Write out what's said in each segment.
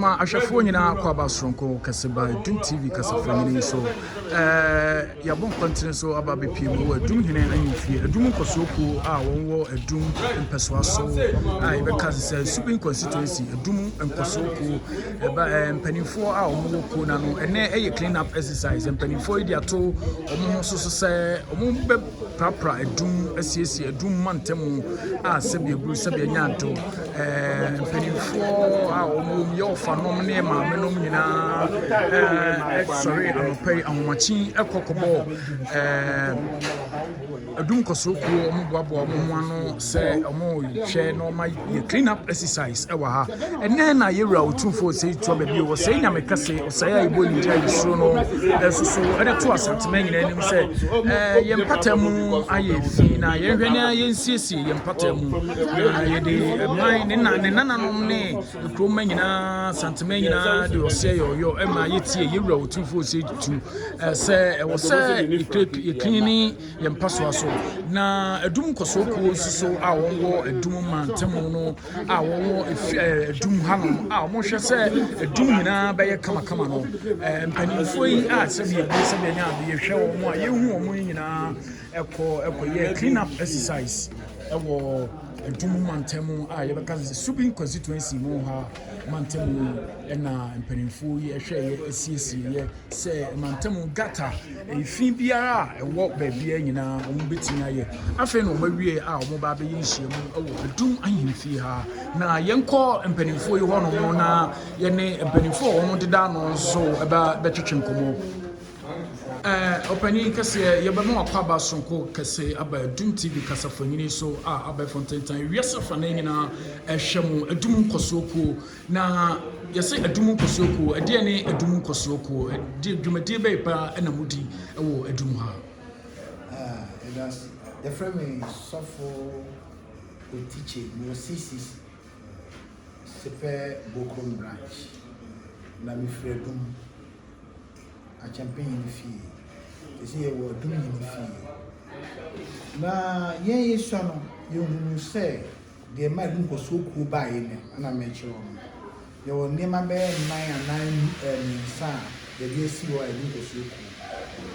Ma ahwɛfoɔ nyinaa akɔ aba soronko kɛse ba Adum TV kasafua nyini yi so. Ɛɛ yɛabɔ nkɔntene so aba abɛpie mu wɔ Adum hene ahemfie, Adum nkɔsoɔ kuo a wɔn wɔ Adum mpɛsoa so a yɛbɛka se sɛ Supin Constituency Adum nkɔsoɔ kuo. Ɛba ɛɛ mpaninfoɔ a wɔn wɔ kuo no ano. Ɛnɛ ɛyɛ clean up exercise. Mpaninfoɔ yi de ato wɔn ho so so sɛ wɔn bɛ. Prapra adum, siesie adum ma ntɛmu a sɛbi eburu sɛbi anya nto. Ɛɛ mpanyinfoɔ a wɔn wom yɛ ɔfanom ne maame nom nyinaa ɛɛ sɔre anɔpɛ yi ahomakyin ɛkɔ kɔbɔ ɛɛ adum kɔsoro kuo wɔn boaboa wɔn ho ano sɛ wɔn rehwɛ na wɔn ayi. yɛ clean up exercise ɛwɔ ha ɛnɛ na yɛwura otumfo ɔsɛe tuo baabi o ɔsɛe nyame kɛse ɔsɛe a yɛbɔ ne gyina yɛsuro no ɛso so ɛde to asantema nyina anim sɛ eh, yɛn mpata mu ayɛ fi na yɛnhwɛ ne yɛnsiesie yɛn mpata mu na yɛde ɛman ne na ne nananom ne kuroma nyinaa santema nyinaa de ɔsɛe yɛɔyɔ ɛma yɛtie yɛwura otumfo ɔsɛe tu eh, sɛ ɛwɔ sɛ yɛkini yɛ mpasoa so, na adum nkɔsoɔ kuo nso so a wɔwɔ adum mantamu no a wɔwɔ adum hanom a wɔhwɛ sɛ adum nyinaa bɛyɛ kamakama no mpanimfoɔ yi a sɛdeɛ bi sɛdeɛ ne adeɛ hwɛ wɔn a yɛhu wɔn yi nyinaa ɛkɔ ɛkɔyɛ clean up exercise ɛwɔ adum mantamu a yɛbɛka sɛ subin constituency mu ha mantamu ɛna mpanimfoɔ yi ɛhwɛ yɛ asiesie yɛ sɛ mantam gata efi biara a ɛwɔ baabiara nyinaa wɔbɛtumi ayɛ afei na wɔawie a wɔba abɛyɛ nhyiam wɔ adum ahemfie ha na yɛnkɔ mpanimfoɔ yi hɔnom no na yɛne mpanimfoɔ a wɔn deda ano nso ɛbɛ bɛtwetwe nkɔmɔ ɔpanyin kɛseɛ yɛbɛma wakwaba sonko kɛse aba adum tv kasafonyini so a abɛɛfo ntentan wiase fa no nyinaa ɛhwɛ mu adum nkɔsoɔ kuo Na yɛse Adum Nkɔsoɔ Kuo, ɛdeɛ ne Adum Nkɔsoɔ Kuo? Ɛdeɛ dwumadie bɛyɛ paa na modi wɔ Adum ha? Yɛdase, yɛfrɛ me Sɔfo Otikye, mewɔ CCC, Sepɛ Bokrom Branch, na mefiri Adum, Akyɛmpe Nyini Fie, sɛsɛ yɛwɔ Adum Nyini Fie. Na yɛn yɛsua no, yɛhunuu sɛ. Deɛ ɛmaa ɛho nkɔsoɔ kuo baeɛ no na merekyerɛ wo no. Yɛwɔ nneɛma bɛyɛ nnan anaa nnum ɛɛ mmiɛnsa a yɛde asi hɔ a ɛho nkɔsoɔ kuo.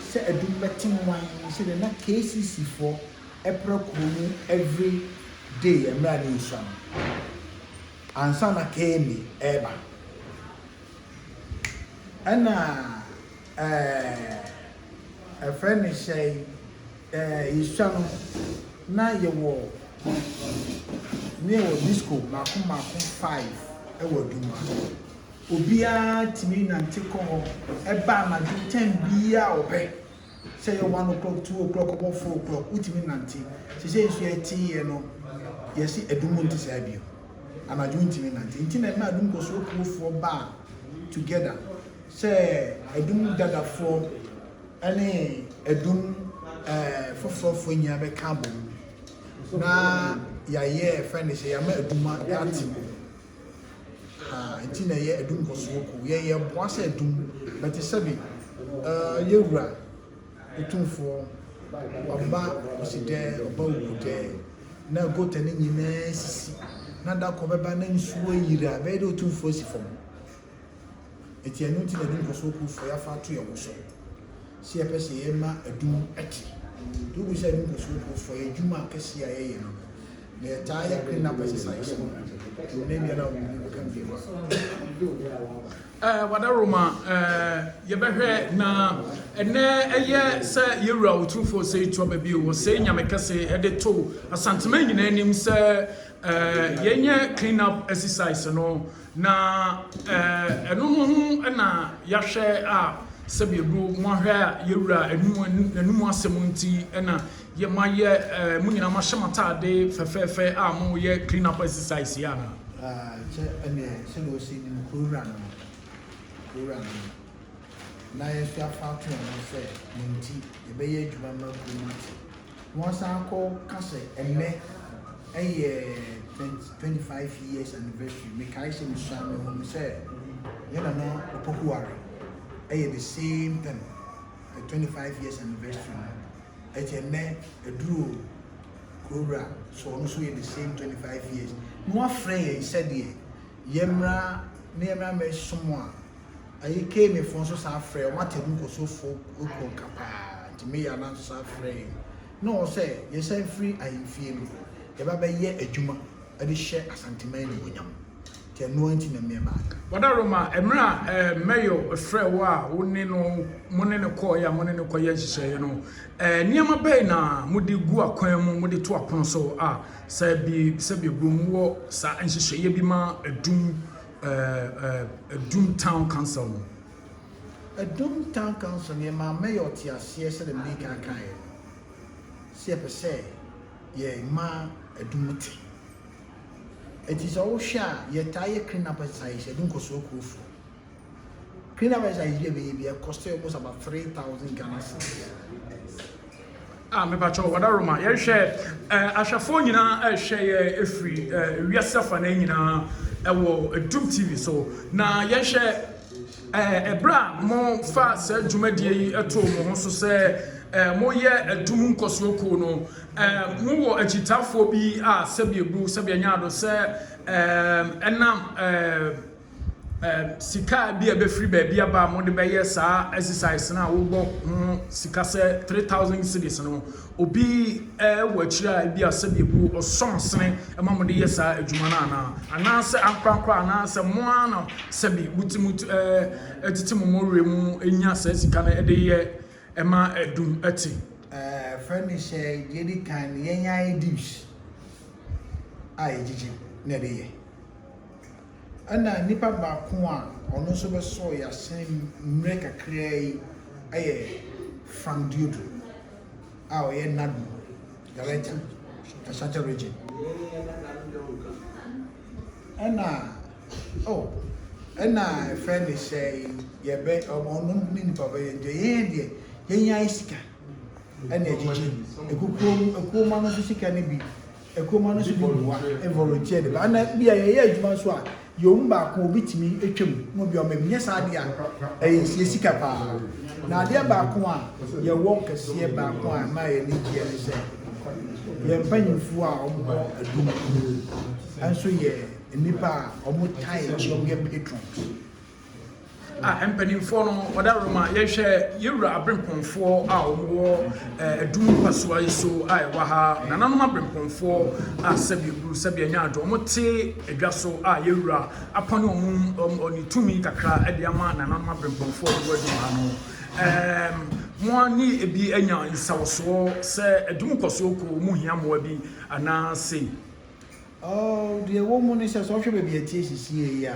Sɛ adum bɛte mman sɛdeɛ na KCC foɔ ɛpra kuo mu every day ɛmmerɛ a na ɛnsua no ansa na KMA ɛreba. Ɛna. yɛfrɛ no hyɛn yɛsua no na yɛwɔ disco mmaako mmaako five wɔ adwuma obiara tumi nante kɔ hɔ ba anadwo ten biara a ɔpɛ sɛ ɛyɛ one o'clock two o'clock ɔbɔ four o'clock wotumi nante seisei nso yɛteeɛ no yɛse adum nte saa bio anadwo ntumi nante nti na ɛma adum kɔsoɔ kurofoɔ baa together Sɛ Adum Dadafoɔ ne Adum foforɔfoɔ nyinaa bɛka abom na yɛayɛ fɛn de sɛ yɛama Adum ate bom ha nti na ɛyɛ Adum Nkɔsoɔ Kuo. Yɛn yɛboa sɛ Adum bɛte sɛbe Yɛwura Otumfoɔ Ɔba Osidɛ Ɔba Owudɛ na gota no nyinaa sisi na da koro bɛba na nsuo ayiri a ɛbɛyɛ dɛ Otumfoɔ asi fam. Enti ɛno nti na yɛde nkɔsoɔ kuo frɛ afa ato yɛn ho so sɛ yɛpɛ sɛ yɛma adum te. Nti wobu sɛ ɛde nkɔsoɔ kuo frɛ yɛ adwuma akɛseɛ a yɛyɛ no na yɛtaa yɛ cleanup exercise no nnɛ biara a obi bɛka bio a. Eh, wada Roma, eh, yɛbɛhwɛ na ɛnɛ ɛyɛ sɛ yɛwura ɔtumfoɔ sɛ ɛtu aba bio wɔ sɛ nyame kɛse ɛde to asantema nyinaa anim sɛ eh, yɛnyɛ clean up exercise no Na ɛno ho ho na yɛahwɛ a sɛdeɛ do moahwɛ a yɛwura anum n'anum asɛm nti na yɛma yɛ mo nyinaa mahyɛ m'ataade fɛfɛɛfɛ a moyɛ clean up exercise yɛ anaa. Kyɛ ɛneɛ sɛdeɛ ɔsi ne mu kurowura no no kurowura no no na yɛso afa ato yɛn ho sɛ ne nti yɛbɛyɛ adwuma ma kurom ate. Won san kɔ ka sɛ ɛnnɛ yɛ twenty twenty five years anniversary me kae sɛ me sua me hunu sɛ yɛ nana opokuware yɛ the same pɛm yɛ twenty five years anniversary no ɛti ɛnnɛ aduro kurowura so ɔno so yɛ the same twenty five years na wafrɛ yɛn sɛdeɛ yɛmmra ne yɛmmra mɛsom a Ayi Kane foɔ nso saa frɛ ɔmo atɛmu nkɔsuo foɔ kuo nka paa nti Mayor nan nso saa frɛ yɛn ne wɔn sɛ yɛn san firi ahemfie no yɛ ba bɛ yɛ adwuma de hyɛ Asanteman animuonyam nti ɛno ara nti na mɛ ba ayɛ. Wadaroma, mmerɛ a ɛɛ Mayor frɛɛ wo a wo ne no mo ne no kɔɔɛ a mo ne no kɔ yɛ nhyehyɛeɛ no ɛɛ nneɛma bɛn na mo de gu akwan mu mo de to apono so a sɛ bi sɛ bi ɛbom mo wɔ saa nhyehyɛeɛ bi ma adum Adum town council no. Adum town council no yɛmaa mayor ɔteaseɛ sɛdeɛ mede kan kaeɛ no sɛ yɛpɛ sɛ yɛma adum te. Ɛti sɛ wohwɛ a yɛtaa yɛ clean up exercise yɛde nkɔsoɔ akurofoɔ. Clean up exercise bi a yɛbɛyɛ bi ɛkɔstɛ almost about three thousand Ghana cedis. Ah me pakyɛw ɔda Roma yɛhwɛ eh ahwɛfoɔ nyinaa ɛrehwɛ yɛ ɛfiri eh wiase afanaa nyinaa ɛwɔ Doom TV so na yɛhwɛ eh ɛberɛ a mo fa saa dwumadie yi ɛtoo mo ho so sɛ eh mo yɛ ɛdum nkɔsoɔ kuo no eh mo wɔ akyitaafoɔ bi a sɛbi ɛbu sɛbi ɛnyaado sɛ eh ɛnam eh sika bi a ɛbɛfiri baabi aba a mode bɛyɛ saa exercise no a wobɔ ho sika sɛ three thousand cities no obi wɔ akyire a ebi a sɛbi ebu ɔsɔn sene ɛma mode yɛ saa adwuma no anaa anaasɛ ankorankora anaasɛ mo ara na sɛbi muti muti ɛɛ ɛtete mo mɔwerɛ mu enya saa sika no ɛde yɛ ɛma ɛdum ɛte. Ɛɛ fɛn ne hyɛ yɛ di kan yɛn yɛ ayɛ dish a yɛgyegye na ɛde yɛ. Ɛnna nnipa baako a ɔno nso bɛsɔɔ yɛn asen mmerɛ kakraa yi yɛ Frank Dieudo a ɔyɛ NADMO Director, Ashanti Region. Ɛnna oh ɛnna ɛfɛ ne sɛ yɛbɛ ɔno ne nnipa bɛyɛ deɛ yɛn deɛ yɛn yɛn ayɛ sika ɛnna ɛgyegye ekukuo ekuo ma no nso sika no bi. Kuroma no nso bi boa volunteered ba na bi a yɛyɛ adwuma nso a yɛwɔ mu baako a obi tumi atwa mu na obi a ɔma mu nyɛ saa adeɛ a ɛyɛ sie sika paa na adeɛ baako a yɛwɔ kɛseɛ baako a ɛma yɛn ani gyeɛ ne sɛ yɛn mpanyinfoɔ a wɔwɔ adum nso yɛ nnipa a wɔtae wɔyɛ patrons. a mpanimfoɔ no wɔde awerɛ mu a yɛhwɛ yɛn wura aberempɔnfoɔ a wɔwɔ adum mpasua yi so a ɛwɔ ha nananom aberempɔnfoɔ a sɛbi buru sɛbi anya adwo wɔn te adwa so a yɛn wura apɔne wɔn wɔn ne tumi kakra de ama nananom aberempɔnfoɔ a wɔwɔ adum ha no ɛɛm mo ani ebi anya nsawɔsoɔ sɛ adum kɔsoɔ kɔ wɔn mu hia mmoa bi anaasɛ. Oh, deɛ ɛwɔ mu ne sɛ sɛ ɔhwɛ baabi a ɛteɛ sisi yɛ yi a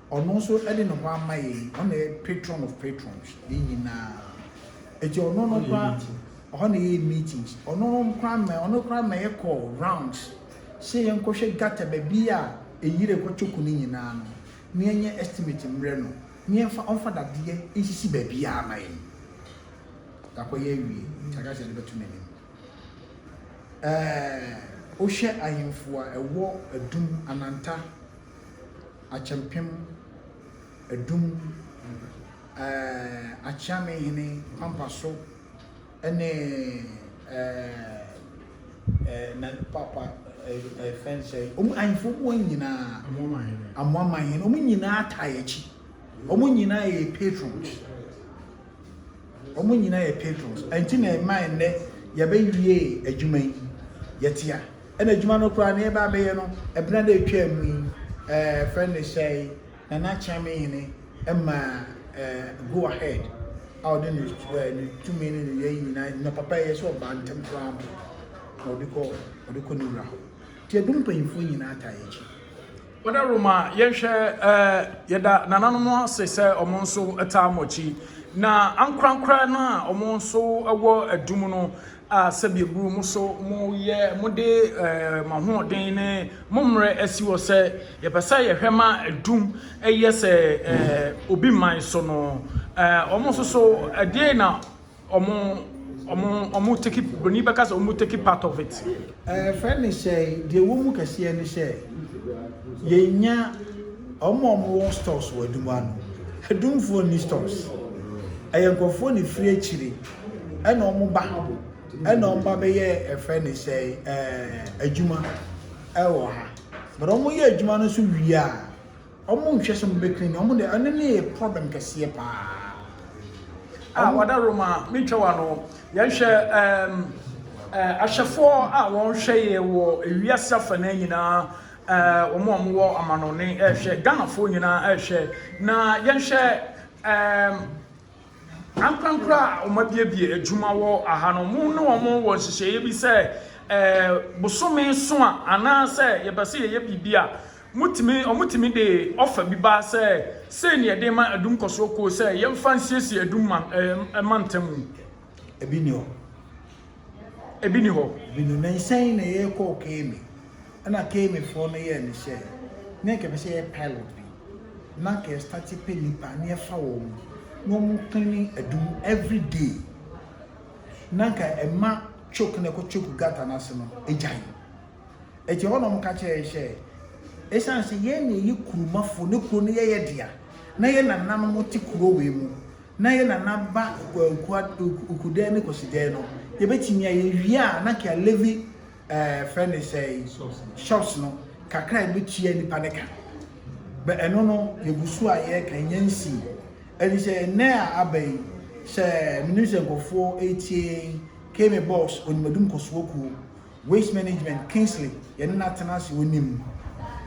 Ɔno nso de ne ho ama yɛn, ɔno na ɛyɛ patron of patrons, yɛn nyinaa. Eti ɔno no koraa, ɔhɔ na yɛyɛ meetings, ɔno no koraa ma ɔno koraa ma yɛkɔ rounds sɛ yɛnkɔhwɛ gutter baabi a ɛyiri ɛkɔ choku no nyinaa no na yɛnyɛ estimate mmrɛ no na yɛmfa ɔmfa dadeɛ nsisi baabiara ma yɛn. Yɛakɔyɛ awie nti aka sɛ yɛde bɛto n'anim. Ɛɛ, wohwɛ ahemfo a ɛwɔ Adum, Ananta, Akyɛmpem Adum, ɛɛɛ Akyeamehene Kwampaso ne ɛɛɛ na paapa ɛɛfɛ no sɛɛ, wɔn ahemfo wɔn nyinaa, Amoamahene, wɔn nyinaa taa yɛn akyi, wɔn nyinaa yɛ yɛn patrons, wɔn nyinaa yɛ patrons, ɛnti na ɛmaa nnɛ yɛbɛwie adwuma yi, yɛte a. Ɛna adwuma no koraa na yɛba abɛyɛ no ɛbena da ɛtwaa mu yi ɛɛ fɛ no ne sɛɛ yi Nana Kyɛnmehene ɛma ɛɛ go ahead a ɔde ne ɛɛ ne tumi ne ne yɛyi nyinaa nnwa papa ɛyɛ sɛ ɔbaa ntɛm koraa mpo na ɔde kɔ ɔde kɔ ne wura hɔ nti ɛdum mpanyinfoɔ nyinaa taa yɛ akyi. Wada Roma yɛnhwɛ ɛɛ yɛda nananom ase sɛ ɔmo nso ɛtaa mo akyi na ankorankora no a ɔmo nso ɛwɔ ɛdum no a sɛbi eburu mo so, mo yɛ mo de mo ahoɔden ne mo mmerɛ asi hɔ sɛ yɛpɛ sɛ yɛhwɛ ma adum yɛ sɛ obi man so no, wɔn nso so ɛdeɛn na wɔn wɔn take broni bɛka sɛ wɔn take part of it. Ɛfɛ ne sɛ deɛ ɛwɔ mu kɛseɛ ne sɛ yɛnya wɔn a wɔwɔ stores wɔ adum ano, adumfoɔ nni stores ɛyɛ nkorɔfoɔ na efiri akyire ɛna ɔmo ba ha bo ɛna ɔmo ba bɛyɛ ɛfrɛ ne sɛ ɛɛ adwuma ɛwɔ ha but ɔmo yɛ adwuma no so wie a ɔmo nhwɛ sɛ ɔmo bɛkiri ne ɔmo de ɛno ne yɛ problem kɛseɛ paa. a wɔda roma metwa wa no yɛhwɛ ɛɛm ɛɛ ahyɛfoɔ a wɔhwɛ yɛ wɔ ewiase afa no nyinaa ɛɛ wɔn a wɔwɔ amanɔne ɛhwɛ ghanafoɔ nyinaa ɛhwɛ na yɛhwɛ ɛɛm. Ankorankoro a wɔabiebie adwuma wɔ ha no, wɔne wɔn wɔ nhyehyɛeɛ bi sɛ bosome so a anaasɛ yɛpɛ sɛ yɛyɛ biribi a, motumi wɔtumi de ɔfa bi ba sɛ sei ne yɛde ma adum kɔsoɔ kuo sɛ yɛmfa nsiesie adum ma ɛma ntamu. Ebi ni hɔ. ebi ni hɔ. Bi no, nansɛn na yɛkɔɔ Kemi, ɛna Kemifoɔ no yɛɛ ne sɛ, na nka yɛpɛ sɛ yɛyɛ pilot bi, na nka yɛstate pɛ nnipa na yɛfa wɔn, na wɔn cleane adum everyday, na nka ɛma choke no ɛkɔ choke gutter no ase no agyae. Ɛti ɛhɔ na wɔka kyerɛ yɛn sɛ, ɛsiane sɛ yɛn na yɛyɛ kuromafoɔ, na kuro no yɛyɛ dea, na yɛn nananom te kuro wei mu, na yɛ nana ba Okuadan ne Kwasidan no yɛbɛtumi a yɛwie a na kea Levi ɛɛ frɛ ne sɛe shops no kakra yɛbɛtua nipa ne ka bɛ ɛno no yɛgu so a yɛka nyɛ nsii ɛne sɛ ɛnɛ a aba yi sɛ menim sɛ nkɔfoɔ ɛtie kame box onimadum kɔsoɔ kuo Waste management Kingsley yɛne no atena ase onim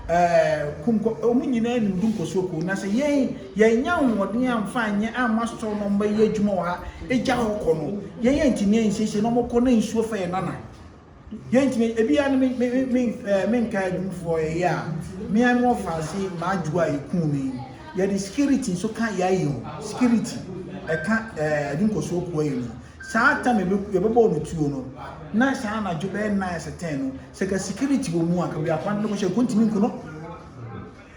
ɛɛ kunkɔ wɔn nyinaa nim du nkɔsoɔ kuo na sɛ yɛn yɛnya ahoɔden amfa anyɛ ama store no mbɛyɛ adwuma wɔ ha egya hɔ kɔ no yɛn yɛn ntumi yɛn nsiesie na wɔkɔ na nsuo fa yɛn nana yɛn ntumi ebi ya no me me me ɛɛ me nka adumfoɔ ɛyɛ a me ano ɔfa ase maa adwo a yɛkuu no yi yɛde security nso ka yɛayɛ o security ɛka ɛɛ adu nkɔsoɔ kuo ayɛ no Saa tam a yɛbɛbɔɔ no tuo no, na saa anadwo bɛyɛ nnan asɛ tɛn no, sɛ ka security wɔ mu a, ka biako ade no kɔhyɛ ɛkɔ ntumi nku no.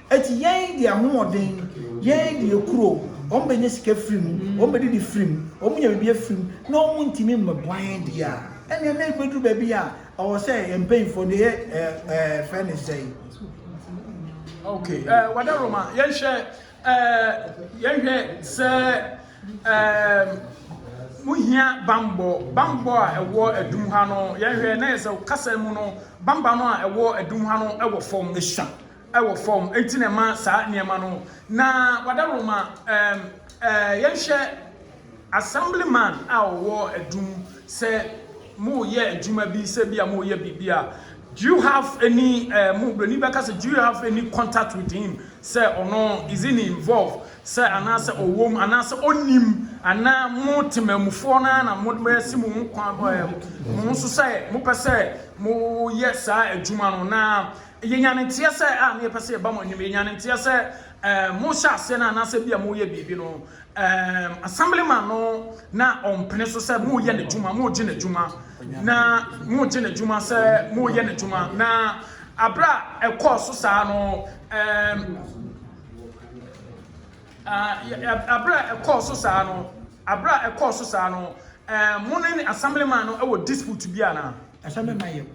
Eti yɛn de ahoɔden, yɛn de ekuro, wɔn bɛnya sika firi mu, wɔn bɛdidi firi mu, wɔn nya biribi afiri mu, na wɔn ntumi mmɛboa yɛn deɛ a, ɛnneɛ na ebɛduru baabi a, ɛwɔ sɛ yɛn mpanyinfoɔ no yɛ ɛɛ ɛɛ fɛ ne sɛn. Okay, ɛɛ wada Roma, yɛnhwɛ. Yɛhwɛ sɛ wohia bammɔ. Bammɔ a ɛwɔ adum ha no, yɛhwɛ na yɛ sɛ kasa mu no, bamba no a ɛwɔ adum ha no wɔ fam, esua wɔ fam, enti na ɛma saa nneɛma no. Na wadaroma, yɛnhwɛ Assemblyman a ɔwɔ adum sɛ mo yɛ adwuma bi sɛ bi a mo yɛ biribi a do you have any eh mo broni bɛka sɛ do you have any contact with him sɛ ɔno is in involve sɛ anaa sɛ ɔwɔ mu anaa sɛ ɔnim anaa mo temanmufoɔ no ara na mo asi mo ho kwan eh mo ho so sɛ mo pɛ sɛ mo yɛ saa adwuma no na yɛ nya ne nteɛ sɛ a na yɛ pɛ sɛ yɛ ba mo anim yɛ nya ne nteɛ sɛ eh mo hyɛ aseɛ no anaa sɛ bi a mo yɛ biribi no Ɛɛm, Assemblyman no na ɔmpene so sɛ moreyɛ n'adwuma, moregye n'adwuma, na moregye n'adwuma sɛ moreyɛ n'adwuma, na abere a ɛkɔɔ so saa no, ɛɛm, ah, abere a ɛkɔɔ so saa no, abere a ɛkɔɔ so saa no, ɛɛm, mo ne Assemblyman no wɔ dispute bi anaa? Assemblyman yɛ.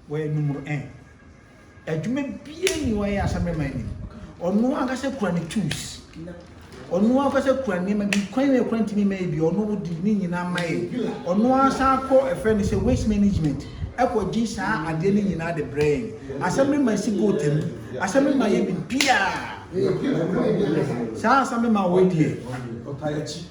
Wɔyɛ numero un. Adwuma biara nni hɔ a ɛyɛ asammerɛ man nim. Ɔno ankasa kura ne tools. Ɔno ankasa kura nneɛma bi. Kwan yɛ kura ntumi mma yɛ bi. Ɔno wodi ne nyinaa ma yɛ. Ɔno ankasa akɔ ɛfrɛ no sɛ waste management ɛkɔ gye saa adeɛ no nyinaa de brɛ yɛn. Asammerɛ man si boat mu. Asammerɛ man yɛ biribiara. Saa asammerɛ man wei deɛ.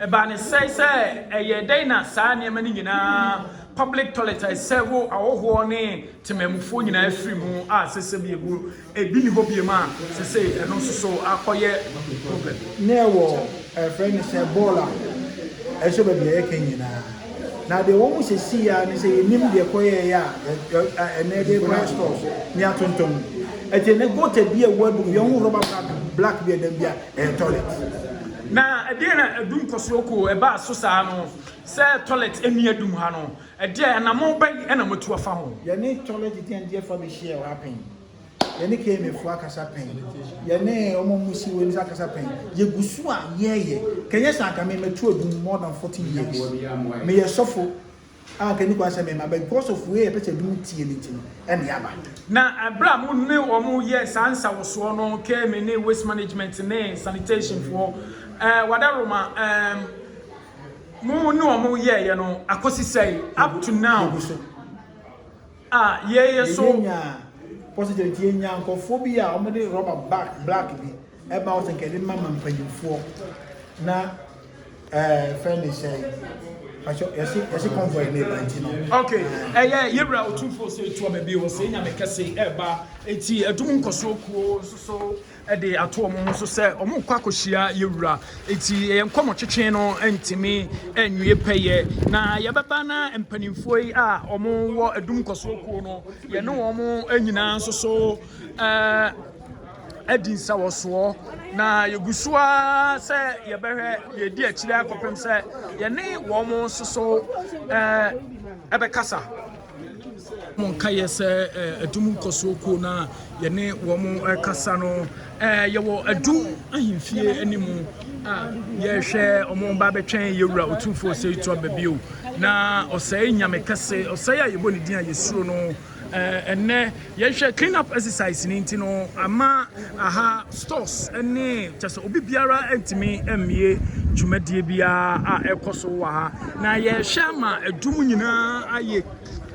Ɛbaa no sɛɛ sɛ ɛyɛɛ dɛn na saa nneɛma no nyinaa, public toilet a ɛsɛ wo ahɔhoɔ ne temanmufoɔ nyinaa firi mu a ɛsɛ sɛ bi ɛmu ɛbi nni hɔ biom a sɛ sɛ ɛno nso so akɔyɛ problem? Na ɛwɔ ɛfrɛ no sɛ bɔɔl a ɛsɔ baabi a yɛka nyinaa. Na deɛ wɔn sɛ sii ara ne sɛ yɛnnim deɛ ɛkɔyɛeɛ a ɛnɛ de rekɔyɛ stores ne atontom. Ɛte ne gota bi a ɛwɔ adum bi, ɛho rɔba bag black bi a ɛdam bi a Ɛyɛ tɔlɛt. Na ɛdeɛn na adum kɔsoɔ koo ɛbaa so saa no sɛ tɔlɛt ɛnni adum ha no? Ɛdeɛn anamɔn bɛn na moatu afa ho? Yɛne tɔlɛt deɛndeɛ fa bɛhyiaɛ hɔ ha pɛn. Yɛne KMA foɔ akasa pɛn. Yɛne wɔn a wɔsi wei no nso akasa pɛn. Yɛgu so a yɛɛyɛ. Kanyɛ saa anka me matu adum more than 14 years. Meyɛ sɔfo. A ɔka ne kwan sɛ mema, but because of wei a ɛpɛ sɛ ebinom tie no nti no, ɛnne aba. Na bere a mo ne wɔn yɛɛ saa nsawɔsoɔ no, KMA ne Waste Management ne Sanitation foɔ, eh, Wadaroma, eh, mo ne wɔn yɛeɛ no, akosi sɛe, up to now. Yɛgu so. a yɛyɛ so. Yɛnya positive nti yɛnya nkɔfoɔ bi a wɔn de rubber bag black bi ɛba wɔn sɛ nka yɛde ma ma mpanyinfoɔ na ɛɛ eh, fɛn ne sɛ yɛsi yɛsi convoy ne ba nti no. ok ɛyɛ yɛwura otumfoɔ sɛ etu ɔbɛ bi wɔ sɛ enya ne kɛse ɛba eti ɛdum nkɔsoɔ kuo nso so de ato wɔn ho so sɛ wɔrekɔ akɔhyia yɛn wura. Enti yɛn nkɔmmɔtwetwe no ntumi nwie pɛyɛ. Na yɛbɛba na mpanimfoɔ yi a wɔwɔ Adum Nkɔsoɔ Kuo no, yɛne wɔn nyinaa nso so eh, adi nsawɔsoɔ. Na yɛgu so ara sɛ yɛbɛhwɛ yɛdi akyire akɔpem sɛ yɛne wɔn nso so eh, ɛbɛkasa. Monka yɛ sɛ adum nkɔsoɔ kuo no a yɛne wɔn kasa no, yɛwɔ adum ahemfie anim a yɛhwɛ wɔn ba bɛtwɛn yɛwura otumfoɔ ɔsɛe to aba bio na ɔsɛe nyame kɛse ɔsɛe a yɛbɔ ne din a yɛsuro no ɛnɛ Yɛhwɛ clean up exercise no nti no ama aha stores ne kyɛ sɛ obi biara ntumi mmie dwumadie biara a ɛkɔ so wɔ ha na yɛhwɛ ama adwum nyinaa ayɛ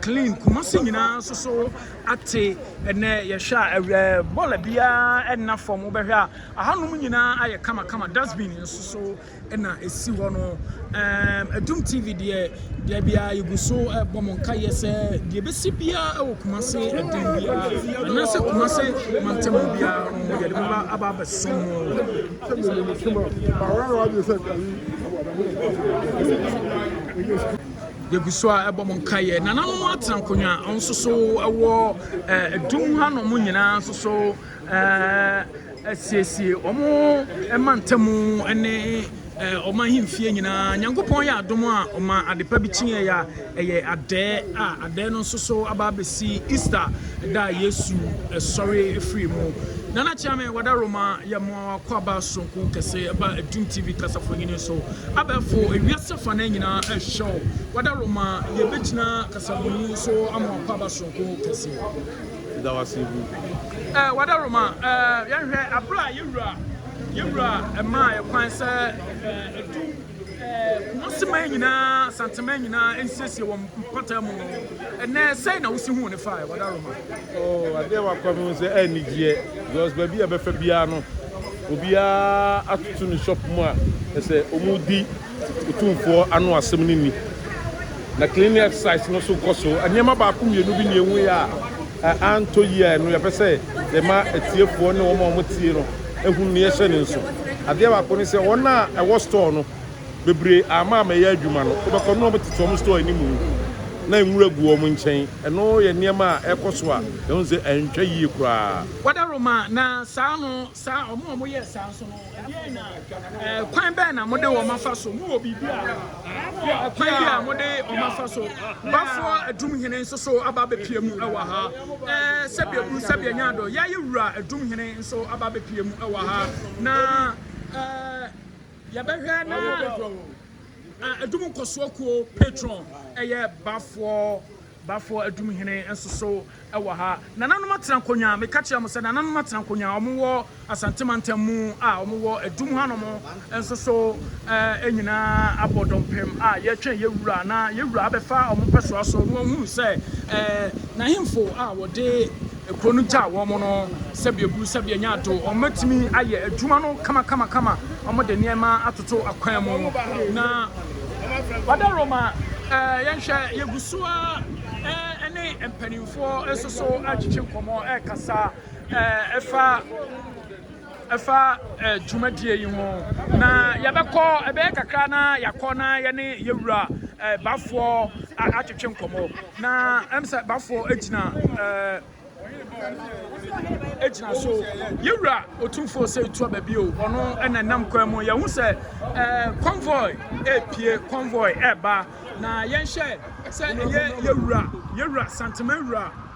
clean kumase nyinaa nso so ate ɛnɛ yɛhwɛ a ɛwɛ bɔla biara ɛnna fam wobɛhwɛ a ahanom nyinaa ayɛ kamakama dustbin nso so na ɛsi hɔ no. Um, Adum TV deɛ, deɛ biara yɛgu so ɛbɔ mo nkaeɛ sɛ deɛ bɛsi biara wɔ Kumase ɛdin biara anaasɛ Kumase mantam biara no yɛde bɛba aba abɛso mo. yɛgu so a ɛbɔ mo nkaeɛ nananom atena nkonnwa nso so ɛwɔ ɛdum hanom nyinaa nso so Asiesie wɔn mantam ne wɔn ahemfie nyinaa. Nyankopɔn yɛ adom a ɔma ade pa bi kyeeɛ a ɛyɛ adɛɛ a adɛɛ no nso so aba abɛsi Easter da a Yesu sɔre firii mu. Nana Kyeame Wada Roma yɛ mmoa wakɔ aba soronko kɛse ɛba Adum TV kasafoyini so. Abɛɛfo ewiase fa nan nyinaa ɛrehyɛ wo. Wada Roma yɛbɛgyina kasafoyini so ama wakɔ aba soronko kɛse. Yɛda wo ase bu. Eh, wada Roma. Eh, yɛnhwɛ abere a yɛwura yɛwura ɛmaa yɛ kwan sɛ eh, ɛdu eh, kumaseman nyinaa santeman nyinaa nsiesie wɔn mpata mu no ɛnɛ sɛn na wosi ho ne fa eh, wada Roma. Oh, adeɛ wakɔ mi sɛ ɛnigyeɛ eh, because baabi a bɛfa biara no obiara atoto ne shop mu a ɛsɛ wɔn di. Otumfoɔ ano asɛm no ni. Na cleaning exercise no nso rekɔ so. Nneɛma baako mmienu bi na yɛhuiɛ a antɔ yie a ɛno yɛpɛ sɛ yɛma atiefoɔ ne wɔn a wɔtie no hunu na yɛhyɛ no nso. Adeɛ baako ne sɛ wɔn a ɛwɔ store no bebree amma ammɛyɛ adwuma no, wobɛkɔ no na wɔtete wɔn store anim na nwura gu wɔn nkyɛn. Ɛno yɛ nneɛma a ɛrekɔ so a yɛhu sɛ antwa yie koraa. Wɔda Roma na saa no Saa wɔn a wɔyɛɛ saa nso no, ɛdeɛn na ɛkwan bɛn na wɔde wɔn afa so? Mowɔ biribi a mowɔ ɛkwan bi a wɔde wɔn afa so? Bafoɔ Adumhene nso so aba abɛpie mu wɔ ha. Ɛɛ sɛbi eburu sɛbi anya adɔ. Yɛayɛ Wura Adumhene nso aba abɛpie mu wɔ ha. Na ɛɛ yɛbɛhwɛ na Adum nkɔsoɔ kuo patron ɛyɛ Bafoɔ. Bafoɔ Adumhene nso so wɔ ha. Nananom atena nkonwa, meka kyerɛ mo sɛ nananom atena nkonwa, wɔn wɔ Asante mantam mu a wɔn wɔ Adum hanom nso so, yɛn nyinaa abɔ dɔmpem a yɛretwɛn yɛn Wura na yɛn Wura abɛfa wɔn pɛsoa so na wɔahunu sɛ n'ahemfo a wɔde. kuro no gyaa wɔn no sɛdeɛ buru sɛdeɛ nya ato wɔn bɛtumi ayɛ adwuma no kamakamakama wɔn de nneɛma atoto akwan mu na ɔda roma ɛɛ yɛnhwɛ yɛgu so a ɛɛ ne mpanimfoɔ nso so ɛtwitwi nkɔmɔ ɛkasa ɛɛ ɛfa. ɛfa dwumadie yi ho na yɛbɛkɔ ɛbɛyɛ kakra na yɛakɔ na yɛne yɛwura bafoɔ atwetwe nkɔmmɔ na ɛm sɛ bafoɔ agyina agyina so yɛwura ɔtumfoɔ sɛ ɛtua baabi o ɔno ɛna nam kwan mu yɛhu sɛ convoy ɛpie convoy ɛba na yɛnhyɛ sɛ ɛyɛ yɛwura yɛwura santema wura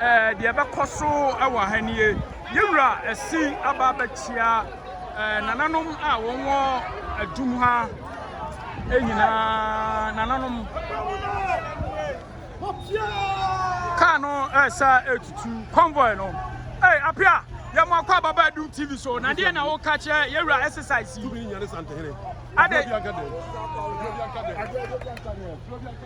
eh, deɛ ɛbɛkɔ so wɔ ha nie yɛ wura ɛsi aba abɛkyia eh, nananom a wɔn wɔ adum ha eh, nyinaa nananom kaa no ɛsa eh, etutu convoy no ɛy eh, apia yɛ mo akɔ ababa adum tv so na deɛ na woka kyerɛ yɛ wura exercise yi.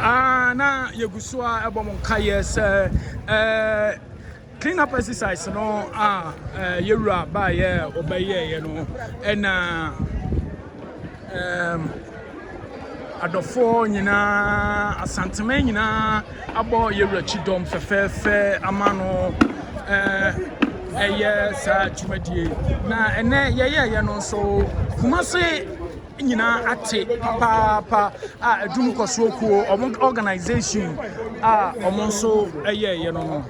Ah, na yɛgu so a ɛbɔ mo nkaeɛ sɛ ɛɛ. Clean up exercise no a yɛwura baayɛ ɔbɛyɛɛyɛ no ɛna adɔfoɔ nyinaa asantema nyinaa abɔ yɛwura kyidɔm fɛfɛɛfɛ ama no ɛyɛ saa dwumadie na ɛnɛ yɛyɛɛyɛ no nso kuma se nyinaa ate papaapa a adum kɔsoɔ kuo ɔmo organization a ɔmo nso ɛyɛ ɛyɛ no no.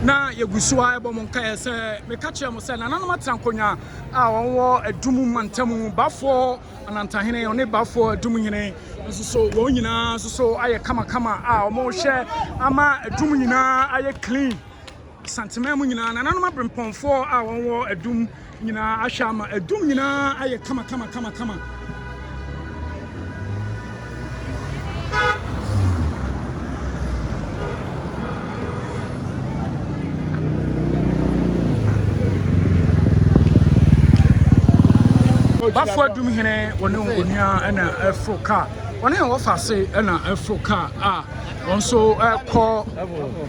na yɛgu so a ɛbɔ mo nkaeɛ sɛ meka kyerɛ mo sɛ nananom atena nkonnwa a wɔwɔ adum mantamu bafoɔ anantahene ɔne bafoɔ adum hene nso so wɔn nyinaa nso so ayɛ kamakama a wɔhyɛ ama adum nyinaa ayɛ clean Santeman mu nyinaa, nananom aberempɔnfoɔ a wɔn wɔ adum nyinaa ahwɛ ama adum nyinaa ayɛ kama kama kama kama. Bafo adum hene wɔne onua ɛna ɛforo kaa wɔne wɔfa ase ɛna ɛforo kaa a wɔn nso ɛkɔ.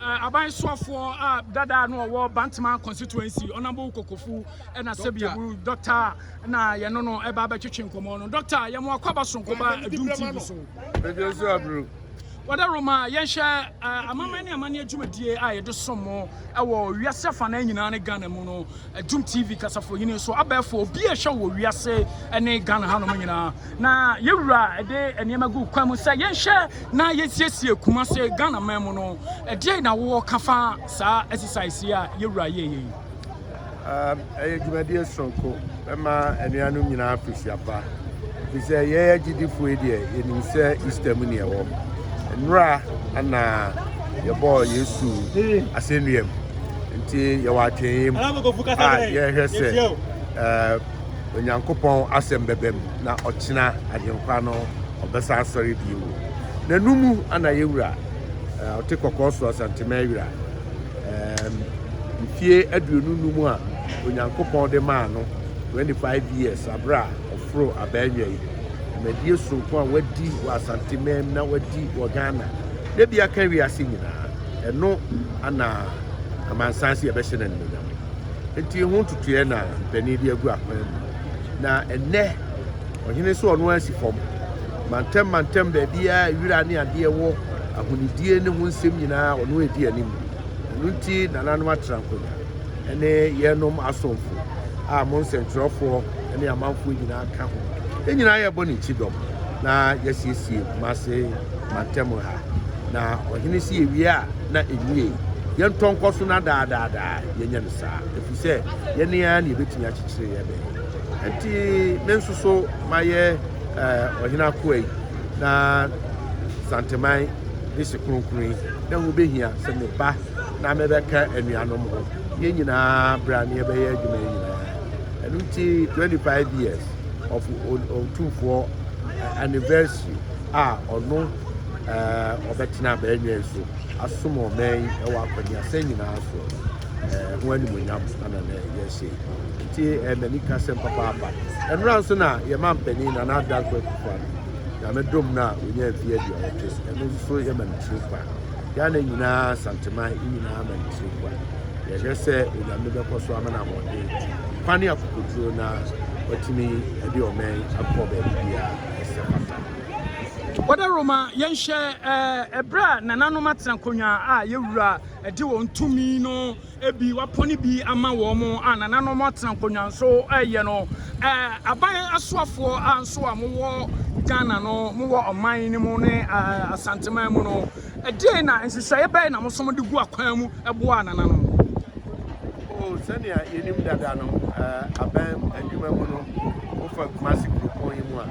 Eh, aban soafoɔ a dada no ɔwɔ bantama constituency ɔnabo kokofu ɛna sɛbiabu dɔkta na yɛno no ɛba bɛtwetwe nkɔmmɔ no dɔkta yɛmo akɔ aba sonko ba adum tv so ɛdwe so abro wɔde roma yɛnhyɛ eh, amammerɛ ne amanneɛ dwumadie a yɛde som mo ɛwɔ wiase afa no nyinaa ne ghana mu no Adum TV kasafohene nso abɛɛfo obi a ɛhwɛ wɔ wiase ne Ghana hanom nyinaa. Na yɛwura ɛde nneɛma gu kwan mu sɛ yɛnhwɛ na yɛnsiesie Kumase Ghana man mu no. Ɛdeɛ na wowɔ ka fa saa exercise yi a yɛwura yɛyɛ yi? Ɛyɛ dwumadie soronko ɛma anuanom nyinaa afirihyia pa. Efisɛ yɛn agyidifo yi deɛ, yenim sɛ Easter mu ne ɛwɔ. Nnora na yɛbɔɔ Yesu asɛnnuam. Nti yɛwɔ atwee mu a yɛhwɛ sɛ Onyankopɔn asɛm bɛba mu na ɔkyena Agyenkwa no ɔbɛsan asɔre bio. N'anum na yɛwura ɔte kɔkɔɔ so Asantema awira. Mfie aduonu num a Onyankopɔn de maa no. Twenty five years aber a ɔforoo abaɛnwa yi, dwumadie soronko a wadi wɔ Asante man mu na wadi wɔ Ghana na bi aka wiase nyinaa, ɛno ana amansan sɛ yɛbɛhyɛ no animonyam. Nti ho ntutuɛ na mpanin de agu akwan mu. Na ɛnɛ ɔhene sɛ ɔno ara si fam mantam mantam baabiara wira ne adeɛ wɔ ahonidie ne ho nsɛm nyinaa ɔno edi anim. Ɛno nti nananom atra nkonnwa. ne yɛnom asomfo a mo nsɛnkyerɛwfoɔ ne amanfoɔ nyinaa ka ho. Yɛn nyinaa yɛbɔ ne kyidɔm na yɛasiesie Kumase mantam ha. Na ɔhene se yɛwie a na ɛnwie. Yɛntɔ nkɔ so na daadaadaa yɛnyɛ no saa, ɛfiri sɛ yɛne ara ne yɛbɛtumi akyekyere yɛ bɛn. Ɛnti me nso so mayɛ eh, ɔhene akoa yi na Santeman de hye kronkron yi na ɛho bɛhia sɛ meba na mebɛka anuanom ho. Yɛn nyinaa bra na yɛbɛyɛ adwuma yi nyinaa. Ɛno nti 25 years of Otumfoɔ eh, anniversary a ɔno eh, ɔbɛtena abɛɛnwɛn so asom ɔman yi wɔ akɔneasɛ nyinaa so eh, ho animonyam ana na yɛsɛ nti mani ka sɛm papaapa ɛnora nso na yɛma mpanin na n'adanfo akufo ano nyame dom no a ɔnya mfeɛ aduɔwɔtwe ɛno nso yɛma no tiri paa Ghana nyinaa Asanteman nyinaa ma ne so bua. Yɛhwɛ sɛ Onyame bɛkɔ so ama no ahoɔden, nkwa ne akokoduro na watumi de ɔman akɔ baabi biara ɛsɛ papa. Wɔda Roma yɛnhyɛ ɛberɛ a nananom atena nkonnwa a yɛwura de wɔn tumi no Ebi wɔapɔn bi ama wɔn a nananom atena nkonnwa so reyɛ no. Aban asoafoɔ a nso a mowɔ Ghana no, mowɔ ɔman no mu ne Asanteman mu no, ɛdeɛn na nhyehyɛeɛ bɛn na mosom de gu akwan mu boa nananom? Oh, sɛnea yɛnim dada no, aban adwuma mu no, wofa Kumasi kuropɔn yi mu a,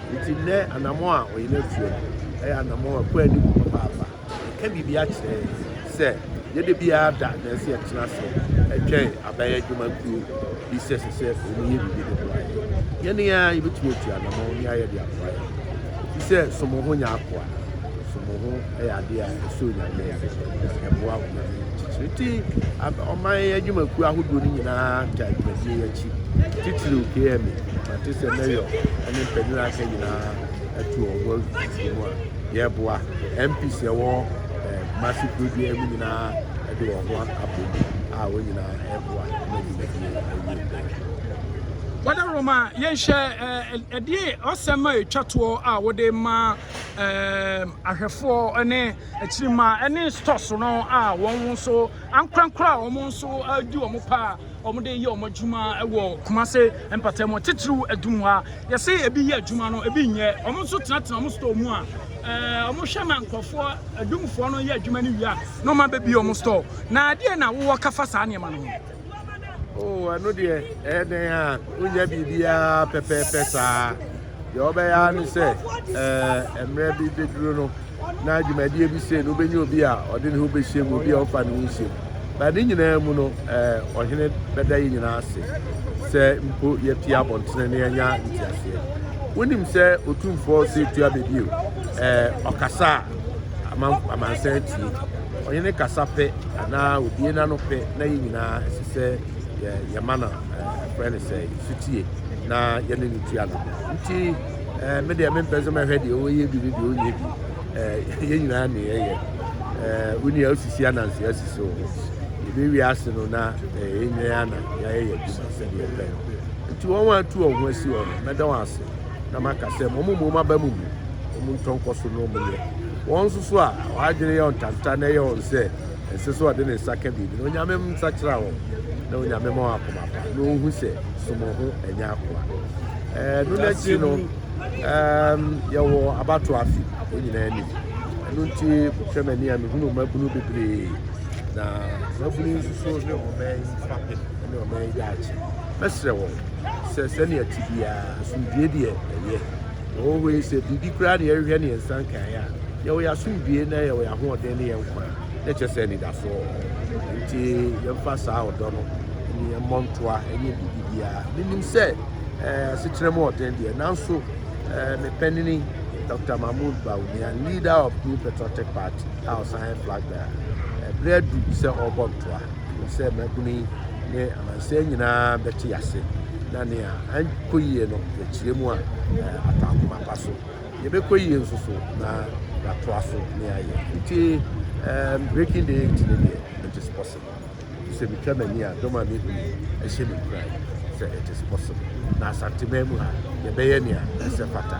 Enti nnɛ anammɔn a ɔyɛn atu no yɛ anammɔn a ɛkɔ anim papaapa. Ɛka biribi akyerɛ yɛn sɛ yɛda biara da nanso yɛtena ase twɛn aban adwumakuo bi sɛ ɛsɛ sɛ wɔyɛ biribi de boa yɛn. Yɛn ara yɛbɛtumi atu anammɔn ne ayɛ de aboa yɛn ho. Ɛfiri sɛ, som wo ho nyɛ akoa. Som wo ho. yɛ adeɛ a ɛsɔ Onyame ani. Ɛboa ɔman no titire. Nti ɔman adwumakuo ahodoɔ no nyinaa gya dwumadie yi akyi. Titire KM, mate sɛ mayor ne mpanyin aka nyinaa atu wɔn ho afi mu a yɛboa. MPs ɛwɔ eh, Kumasi kuro biara mu nyinaa ɛde wɔn ho abom a wɔn nyinaa ɛboa ma dwumadie ɛwie pɛɛ. Brother Roma, yɛnhyɛ ɛdeɛ ɔsɛm a ɛtwa toɔ a wode ma ɛɛm, ahwɛfoɔ ne akyirima ne stores no a wɔn nso ankorankoro a wɔn nso adi wɔn pa a wɔde yɛ wɔn adwuma wɔ kumase mpatam titiriw adum ha yɛsɛ ebi yɛ adwuma no ebi nyɛ wɔn nso tenatena wɔn store mu a ɛɛ wɔn hwɛ ma nkurɔfoɔ adumfoɔ no yɛ adwuma no wie a na wɔn abɛbi wɔn store na adeɛ na wowɔ kafa saa nneɛma no ho. Oh, ɛno deɛ ɛyɛ dɛn a wonya biribiara pɛpɛɛpɛ saa deɛ wɔbɛyɛ ara ne sɛ eh, mmerɛ bi bɛduru no na dwumadie bi sei no wobɛnya obi a ɔde ne ho bɛhyɛ mu obi a ɔmfa ne ho nhyɛ mu ba ne nyinaa mu no eh, ɔhene bɛda yɛ nyinaa ase sɛ mpo yɛte abɔntene ne yɛnya nteaseɛ wonim sɛ ɔtumfoɔ sɛ tua bɛbio eh, ɔkasa a amansan tie Ɔne no kasa pɛ anaa obue n'ano pɛ na yɛn nyinaa ɛsɛ sɛ yɛma no ɛfrɛ no sɛ sutie na yɛne no tua no nti me deɛ mempɛ sɛ mɛhwɛ deɛ ɔyɛ bi ne deɛ ɔnyɛ bi yɛn nyinaa ne yɛyɛ woni a osisi ananse asi so yɛbɛwie ase no na ɛnyɛ ana yɛayɛ yɛ adwuma sɛdeɛ ɛpɛ no nti wɔn a atu wɔn ho asi wɔn no mɛda wɔn ase na maka sɛ mɔmomɔ mu aba mu mu wɔn ntɔ nkɔ so na wɔn yɛ wɔn nso so a wɔadwene yɛ ntanta na ɛyɛ wɔn sɛ ɛnsɛ sɛ ɔde ne nsa ka biribi na onyame nsa kyerɛ wɔn na onyame ma wɔn akoma pa na wɔhu sɛ somɔ ho ɛnyɛ akoa ɛɛ no n'akyi no ɛɛm yɛwɔ abato afi wɔn nyinaa anim ɛno nti hwɛ m'ani a mehunu mmabunu bebree na mmabunu nso so ne ɔman fapem ne ɔman gyaakye mɛsrɛ wɔn sɛ sɛnea ɛte biara asomdwoe deɛ ɛyɛ. Ɛwɔ hɔ yi sɛ biribi koraa na yɛhwehwɛ ne yɛn nsa nkae a, yɛwɔ yɛn asomdwoe na yɛwɔ yɛn ahoɔden ne yɛn nkwa a, na ɛkyerɛ sɛ anidasoɔ wɔ hɔ. Nti yɛmfa saa ɔdɔ no ne yɛmmɔ ntoa ɛnyɛ biribi biara. Menim sɛ eh, asetena mu ɔden deɛ, nanso eh, mepɛnini Dr. Mahmoud Bawumia, leader of New Patriotic Party, a ɔsan yɛ flag bearer, ɛberɛ adu sɛ ɔrebɔ ntoa. Mepɛ sɛ mmabunu yi ne amansan nyinaa bɛte ase na nea ankɔ yie no yɛkyerɛ mu a ata akoma pa so. Yɛbɛkɔ yie nso so na yɛatoa so ne ayɛ. Nti um, breaking the eight ne deɛ it is possible. Sɛ metwa m'ani a dɔm a mehu yi ɛhyɛ me nkuran sɛ it is possible. Na Asanteman mu ha yɛbɛyɛ nea ɛsɛ fata.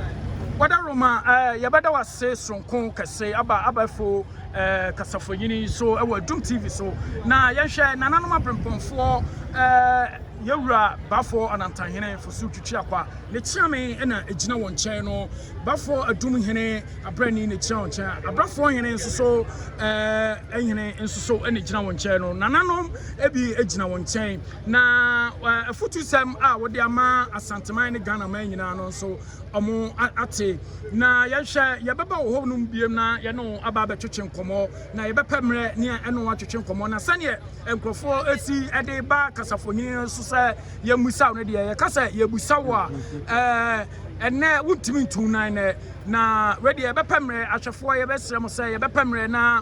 Wadaroma, eh, yɛbɛda wase soronko kɛse aba abɛfo. eh, kasafonyin yi so wɔ Adum TV so na yɛnhwɛ nananom abrempɔnfoɔ eh, yɛwura bafoɔ anantanhene fosu twitwi akwa ne kyeame na ɛgyina wɔn nkyɛn no bafoɔ adum hene abrani na ɛgyina wɔn nkyɛn abrafoɔ hene nso so eh, hene nso so na ɛgyina wɔn nkyɛn no nananom ebi gyina wɔn nkyɛn na eh, afutusɛm a wɔde ama asanteman ne ghana man nyinaa no nso wɔate. Na yɛhwɛ, yɛbɛba wo hɔnom biom na yɛne wo aba abɛtwetwe nkɔmmɔ, na yɛbɛpɛ mmerɛ ne ɛne wo atwetwe nkɔmmɔ. Na sɛdeɛ nkurɔfoɔ ɛsi de ba kasafonini no so sɛ yɛmmisa wo no deɛ, yɛka sɛ yɛbusa wo a, ɛnnɛ wontumi ntu wo nan nɛ. Na wei deɛ yɛbɛpɛ mmerɛ, ahwɛfoɔ yɛbɛsrɛ mo sɛ yɛbɛpɛ mmerɛ na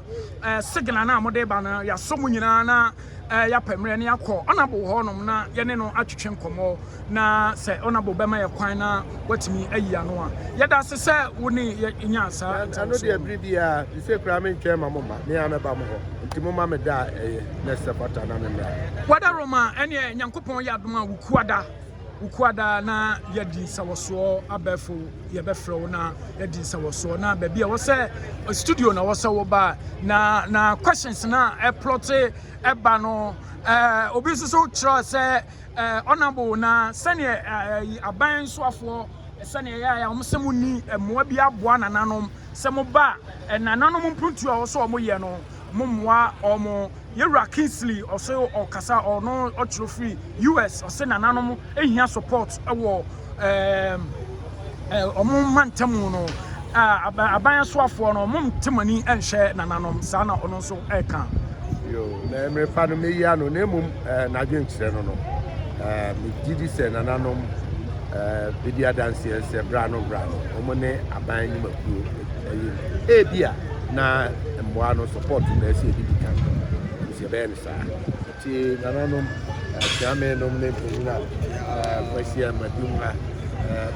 signal no a mode ba no, yɛasɔ mo nyinaa na Eh, yɛapɛ mmerɛ na yɛakɔ Honourable hɔ nom na yɛne no atwetwe nkɔmmɔ na sɛ Honourable bɛma yɛ kwan na watumi ayi ano a. Yɛda ase sɛ wo ne yɛnya saa ntɛnso. Ɛno deɛ bere biara, te sɛ koraa mentwɛn ma mo mma, me ara mɛba mo hɔ. Nti momma me da a ɛyɛ na ɛsɛ fata na memmra. Wada Roma, ɛneɛ Nyankopɔn yɛ adom a wokuada. Wo kua daa na yɛdi nsawɔsoɔ abɛɛfo yɛbɛfrɛ wo na yɛdi nsawɔsoɔ na baabi a wɔsɛ studio na wɔsɛ wo ba na na questions na ɛplɔte ɛba no ɛɛ obi nso so kyerɛ sɛ ɛɛ honourable na sɛnea ɛɛ aban soafoɔ sɛnea ɛyɛ a wɔn sɛ mo ni mmoa bi aboa nananom sɛ mo ba nananom mpuntuo a wɔsɛ wɔn yɛ no. mo mmoa wɔn. Yɛwura Kingsley ɔse ɔkasa ɔno ɔkyerɛ firi US ɔse nananom ehia support wɔ ɛɛm wɔn mantamu no aban asoafoɔ no wɔn te mo ani nhyɛ nananom saa na ɔno nso ɛka. Yo na mmerɛ pa no meyi ano na mmom eh, n'adwenkyerɛ no no eh, megye di sɛ nananom eh, bɛdi adanseɛ sɛ bra no bra no wɔn ne aban anim wɔ ayi no. Ebia na mmoa no support na ɛsɛ ebi di kan. Nti ɛbɛyɛ no saa. Nti nananom, atiame nom ne mpanyin a kwasi a madu mu ha.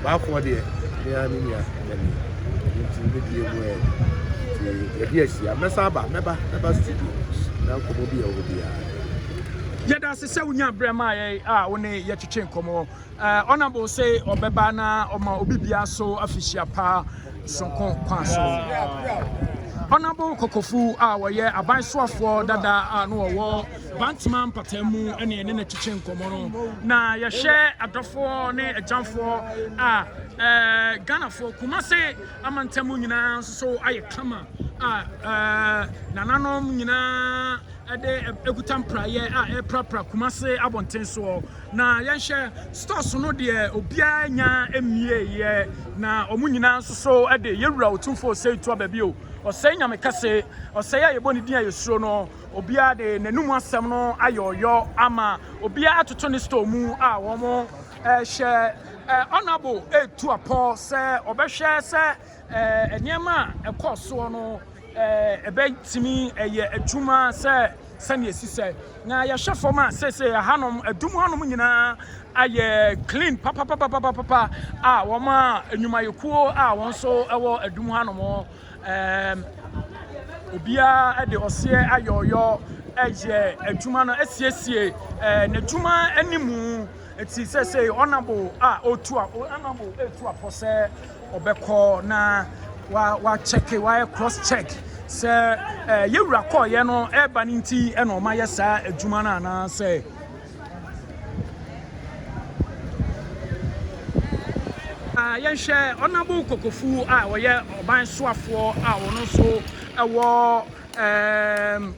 Baafoɔ deɛ me ara me nua ɛnani. Nti ne bie mu ɛ. Nti yɛde ahyia. Mɛsan aba, mɛba, mɛba studio. Na nkɔmmɔ bi a ɛwɔ hɔ biara. Yɛda ase sɛ wonya berɛ maa yɛn a wo ne yɛtwetwe nkɔmmɔ. Honourable say ɔbɛba na ɔma obi bia so afihyia pa sonko kwan so. Honourable Kokofu a wɔyɛ aban soafoɔ dada a no wɔwɔ Bantama mpataa mu ne ɛne no kyekye nkɔmmɔ no na yɛhwɛ adɔfoɔ ne agyanfoɔ a ɛɛ Ghanafoɔ Kumase amantam nyinaa nso so ayɛ kama a ɛɛ nananom nyinaa ɛde ɛkuta mpraeɛ a ɛprapra Kumase abɔnten soɔ Na yɛnhwɛ, stores no deɛ obiara nya mmieeɛ, na wɔn nyinaa nso so de Yɛwura Otumfoɔ Osei toa baabi o, Osei Nyame Kɛse, Osei a yɛbɔ ne din a yɛsuro no, obiara de n'anom asɛm no ayɛ ɔyɔ ama obiara atoto ne store mu a wɔhyɛ Honourable Atuapɔ sɛ ɔbɛhwɛ sɛ Nneɛma a ɛkɔɔ soɔ no, ɛbɛtumi ɛyɛ adwuma sɛ sɛdeɛ ɛsi sɛ na yɛhwɛ fam a sese ɛhanom ɛdum hanom nyinaa ayɛ clean papapapapapa a wɔn a nnwumayɛkuo a wɔn nso ɛwɔ ɛdum hanom obiara de ɔseɛ ayɔyɔ ɛyɛ adwuma no asiesie n'adwuma animu eti sese ɔnabo a otu a ɔnabo etu apɔ sɛ Ɔbɛkɔ na wa wa check wa yɛ cross check sɛ ɛɛ eh, yɛwura kɔɔyɛ no ɛɛba ne nti ɛna ɔma yɛ saa adwuma no anaasɛ. Ah, yɛnhwɛ ɔnabo kokofu a ɔyɛ ɔban soafoɔ a ɔno nso ɛwɔ ɛɛm.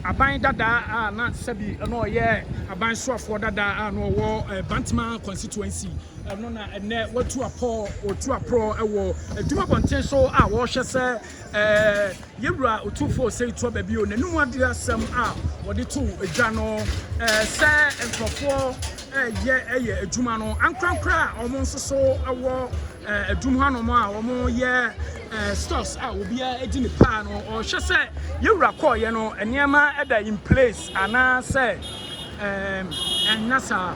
Aban dadaa a na sɛbi na ɔyɛ aban soafoɔ dadaa a na ɔwɔ Bantama constituency no na ɛnɛ watu apɔ otu aporɔ wɔ adwuma bɔnten so a wɔrehwɛ sɛ yɛwura otumfoɔ Osei Tuo Baabi o n'anum adeɛ asɛm a wɔde to adwa no sɛ nkurɔfoɔ yɛ yɛ adwuma no ankorankora a wɔn nso so wɔ adum hanom a wɔyɛ Eh, stores a obiara di ne paa no ɔhwɛ sɛ yɛwura kɔɔyɛ no nneɛma ɛda in place anaasɛ ɛɛm ɛnna saa.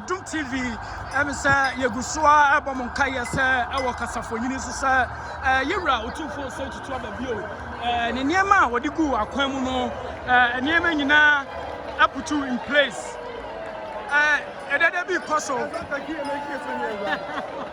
Adom TV, ɛne sɛ yɛgu so a ɛbɔ mo nkaeɛ sɛ ɛwɔ kasafoɔnyini nso sɛ yɛ wura otumfoɔ sɛ tutu aba bio ne nneɛma a wɔde gu akwan mu no nneɛma nyinaa aputu in place ɛdɛdɛ bi kɔ so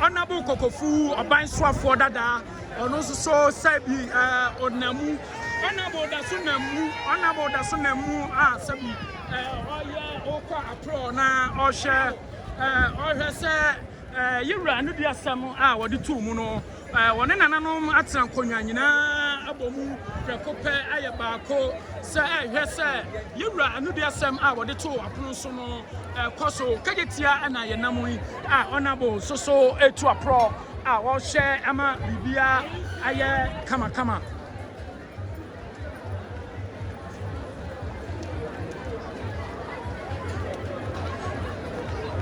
Honorable Kokofu, Oban Swafor Dada, ɔno nso so sɛbi ɔnamu Honorable Daso Namu Honorable Daso Namu a sɛbi ɔyɛ ɔkɔ aprɔ na ɔhyɛ Ɔhwɛ sɛ yɛn wura no di asɛm a wɔde too mu no. Wɔne nananom atena nkonnwa nyinaa abɔ mu prɛko pɛ ayɛ baako sɛ ɛhwɛ sɛ yɛn wura no di asɛm a wɔde too apono so no kɔ so. Kagye tia na yɛn nam yi a ɔnabo soso etu aporɔ a wɔhyɛ ama biribiara ayɛ kamakama.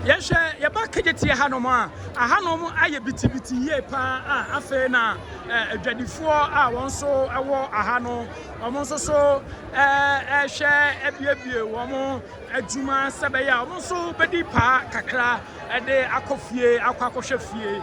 yɛhwɛ yɛba kegyetiɛ hanom a ahanom ayɛ bitibiti yie paa a afei na adwadifoɔ a wɔn nso wɔ aha no wɔn nso so ɛhwɛ abiebie wɔn adwuma sɛ bɛyɛ a wɔn nso bɛdi paa kakra ɛde akɔ fie akɔ akɔhwɛ fie